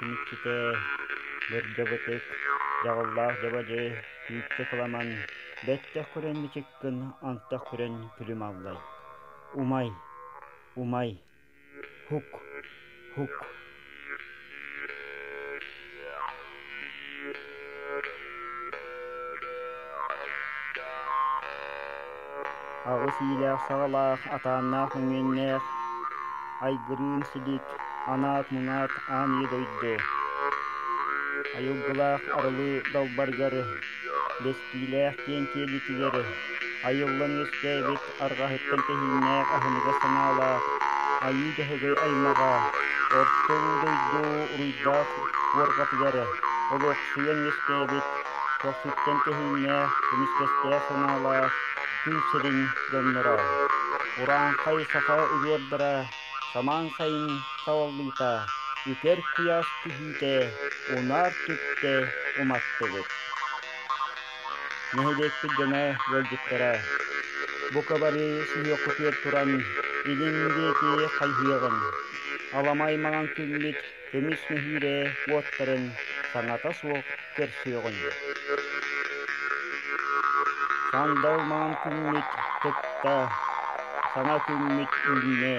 түмүкчүтэ бэргэбэтик дьаҕыллаах дьабадьы түүччэ кыламан бэттэх күрэн мичик Кын антах күрэн күлүм аллай Умай, умай, һук, һук Аҕыс иилээх саҕалаах атааннаах өҥүөннээх Айгырыын силик анаат-мунаат ааныы дойду Айылгылаах арылыы далбаргары Бэс Илиилээх диэн киэлитилэри айыллан үөскээбит арҕаһыттан тэһииннээх аһыныгас санаалаах айыы дьаһыгый аймаҕа орто улуу дойду уруйдаах буорҕатыгары олохсуйан үөскээбит көхсүттэн тэһииннээх көмүскэстээх санаалаах күн сирин дьонноро урааҥхай саха увердара самаан сайын саҕаллыыта үкэр куйаас түһүүтэ унаар түптэ уматтыбыт Нэһилиэкпит дьоно ыалдьыттара, бука бары сүһүөххүтүгэр туран илин диэки хайыһыаҕыҥ, аламай маҥан күммүт көмүс нэһиилэ уоттарын саҥата суох көрсүөҕүҥ. Сандал маҥан күммүт кытта, саҥа күммүт үүннэ.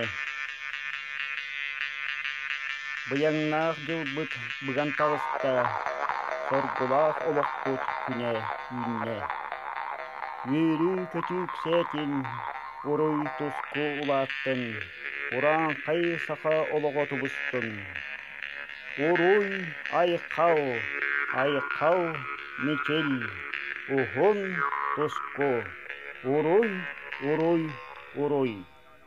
Быйаҥнаах дьылбыт быган таҕыста, соргулаах олохпут күнэ үүннэ. Үөрүү-көтүү иксээтин, уруй туску улааттын, урааҥхай саха олоҕо тубустун. Уруй, айхал, айхал, мичил, уһун, туску, уруй, уруй, уруй.